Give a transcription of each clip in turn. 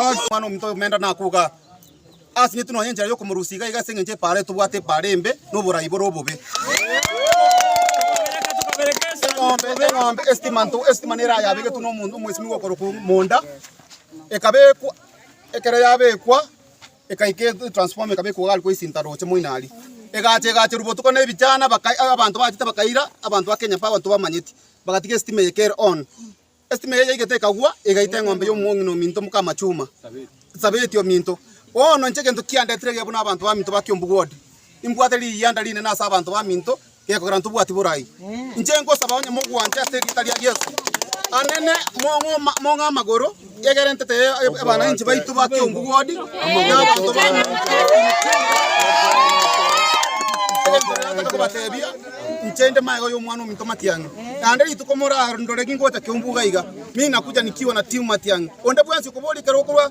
Omwana omonto omenda nakogaa, Asinyetu nonya enchera y'okomorusia iga iga ase engencho epaaro eye tobwate epaaro embe, na oborai bore obobe. Eng'ombe eng'ombe estima nto estima nere ayabegetwe na omo- omwesimigwa okorokwa monda, ekabekwa ekero yabekwa. Ekaika etransformer ekaba ekogwa gari koisinta roche moinari. Egacha egacherwa botuko na ebichana baka abanto bachete bakaira abanto ba Kenya Power tobamanyeti. Bagatiga esitima eye kere on. Esitima eye yaigete ekagwa egaita eng'ombe ya omong'ina ominto mokama chuma. Sabeti ominto. Bono inche egento kiandetire iga buna abanto baminto ba Kiombu ward. Imbwate riyianda rinene ase abanto baminto gekogera intwe obwati borai. Inche ngosaba onye mogwanche ase erieta ria Yeso. Anene, mong'oma, mong'e amagoro, egerentete e- abananchi baito ba Kiombu ward, na abanto ba kobatebia inche nde maega y'omwana ominto matiang'i naende rituko morandore ningocha kiombu iga iga mi nakuja nikiwa na timu matiang'i onde bwensi okoboria ekero okorwa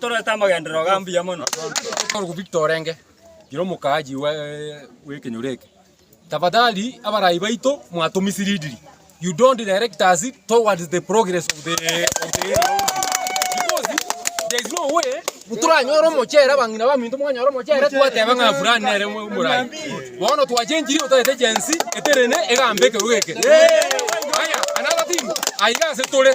Tororete amagenderero ga mbuya mono. Bono Victor orenge ira omokaaji bw'ekenyoro eke, tafadhali abarai baito mwatomisleadiri, you don't direct us towards the progress of the area because there is no way toranyore omochere abang'ina baminto mwanyora omochere twateba ng'a fulani nere omorai. Bono twachengirie otaete Gen-z eterene egambe ekerogo eke. Haya, another thing, aiga ase tore.